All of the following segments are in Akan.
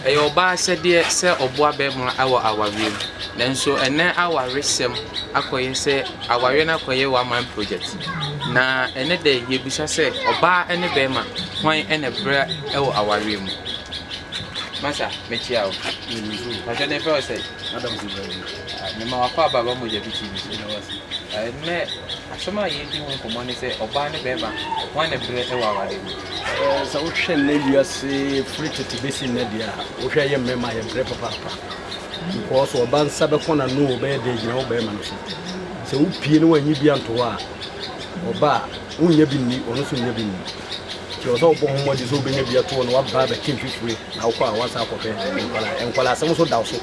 Ɛyɛ ɔbaa asɛdeɛ sɛ ɔboa barima wɔ awareɛ mu, nanso ɛnnɛ awaresɛm akɔyɛ sɛ awareɛ no akɔyɛ one man project. Na ɛnnɛ da yi yɛbisa sɛ ɔbaa ne barima hwan na ɛbrɛ wɔ awareɛ mu? Masa mekyia o. Pakyɛ ne fɛw sɛ. Madam so baabi. Mema wakɔ ababa mogya bi TV so. Ɛnɛ asɛm a yɛredi ho nkɔmmɔ ne sɛ ɔbaa ne bɛrima wɔn ne brɛ wɔ aware mu. Sɛ wohwɛ nnɛ wiase firi tete bɛsi nnɛ deɛ a wohwɛ yɛ mmarima yɛ brɛ papaapa. Nkɔɔ so ɔba nsa bɛkɔ n'ano o bɛyɛ dɛ gyina wo bɛrima no so. Sɛ wopie ne wannye bi anto hɔ a ɔba a wonnya bi nni ɔno so nnya bi nni. Kyerɛ sɛ wobɔ ho mmɔden sɛ wobɛnya bi ato hɔ na waba abɛte mfifire na wokɔ a woasan akɔhwɛ nkwadaa nkwadaa asɛm nso da wo so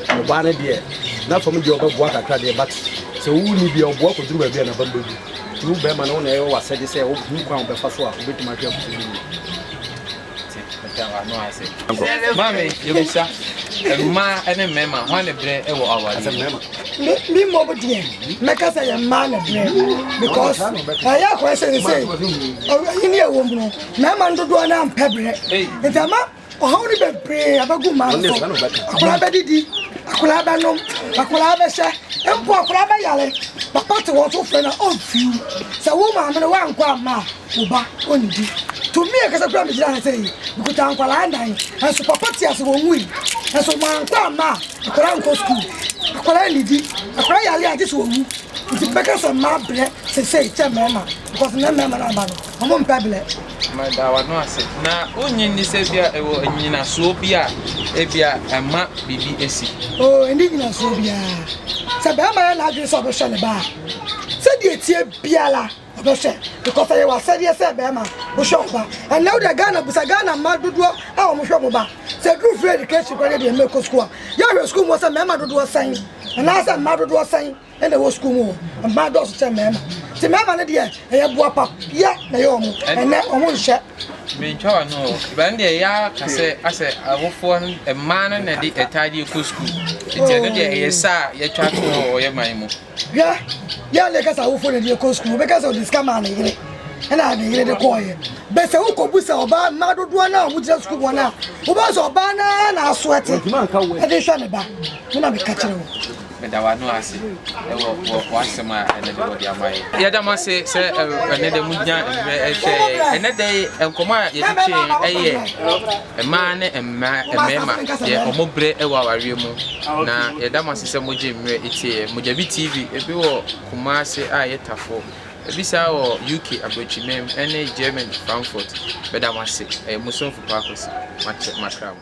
ɔbaa no deɛ na fam deɛ ɔbɛboa kakra deɛ but sɛ wonni bia ɔboa kɔduru baabi a naba mbɛgu nti wo bɛrima no wo na ɛyɛ wɔ asɛde sɛ wohu kwan wobɛfa so a wobɛtumi ahwɛ afoforo bi Ɔda w'ano ase. Maame, yɛbisa, mmaa ne mmarima, hwan ne berɛ wɔ awadeɛ mu? Me, me mmom deɛ, mɛka sɛ yɛ mmaa ne berɛ. Because, ɛyɛ akɔyɛ sɛ sɛ, ɔwɛyi ne ɛwɔ mu no, mmarima no dodoɔ no ampɛ berɛ. Nti ama ɔhaw no bebree abɛgu mmaa no so. Akwadaa bɛdidi, akwadaa bɛnom, akwadaa bɛhyɛ, mpo akwadaa bɛyare. Papa te hɔ nso frɛ no a, ɔmfiw. Sɛ wo maame no woankɔ amma a, Wo ba, onnidi. Tumi ankasa kura me gyina ha sɛ yi. Mekuta nkwadaa nnan, nanso papa te ase, wɔnwui. Nanso mankɔ amma a, akwadaa nkɔ sukuu. Akwadaa nnidi. Akwadaa yare a, gye sɛ wɔwu. Nti mebɛka sɛ mmaa brɛ seesei kyɛn mmarima because nnɛ mmarima no aba no, wɔmpɛ brɛ. Meda w'ano ase. Na wonnye nni sɛ ebia ɛwɔ nnyinasoɔ bi a ebia ɛma biribi asi? Oo, ɛnni nnyinasoɔ biara. Sɛ barima yɛ n'adwene sɛ ɔbɛhwɛ ne ba a, sɛdeɛ ɛteɛ biara, Ɔdɔ hyɛ because ɛyɛ w'asɛdeɛ sɛ bɛɛma wohwɛ wo ba ɛnɛ wo deɛ Ghana busa Ghana mma dodoɔ a wɔn hwɛ wɔn ba sɛ ɛduru free education kora deɛ mma ɛkɔ sukuu a yɛhwɛ sukuu mu sɛ mmarima dodoɔ sɛn anaasɛ mmaa dodoɔ sɛn ɛna ɛwɔ sukuu mu wɔ mmaa dɔɔso kyɛn mmarima nti mmarima no deɛ ɛyɛ boa pa yɛ na ɛyɛ wɔn ɛnɛ wɔn nhyɛ. Mentwa wa no bɛn deɛ yɛ aka sɛ asɛ awofoɔ mmaa no na ɛde ɛtaadeɛ kɔ sukuu nti ɛno deɛ ɛyɛ saa yɛtwa to wɔ yɛ man mu. Hwɛ, yɛn ne kasa awofo na ɛde kɔ sukuu. Obi kasa ɔde sika maa ne yere, ɛna ne yere de kɔɔyɛ. Bɛsɛ wo kɔbu sɛ ɔbaa mmaa dodoɔ no a wɔn gyina sukuu wɔn a, wobɛhu sɛ ɔbaa no ara na aso ɛte, ɛde hwɛ ne ba. Me na meka kyerɛ wo. Meda w'ano ase wɔ w'asɛm a ɛnɛ de wɔde ama yɛ. Yɛda mo ase sɛ ɛnɛ dɛ mo gyina mmerɛ ɛhwɛ yɛ. Ɛnɛ dɛ nkɔmɔ a yɛde twɛ yɛn ɛyɛ. Mmaa ne mmarima, deɛ wɔn berɛ wɔ awareɛ mu, na yɛda mo ase sɛ mogye mmerɛ tie yɛn. Mogyabi TV, ebi wɔ Kumasi a ɛyɛ Tafo, ebi saa wɔ UK Abrokyiman ne Germany Frankfurt. Meda mo ase. Ɛyɛ mo somfo Paul Kwesi. Makyɛ, makra mo.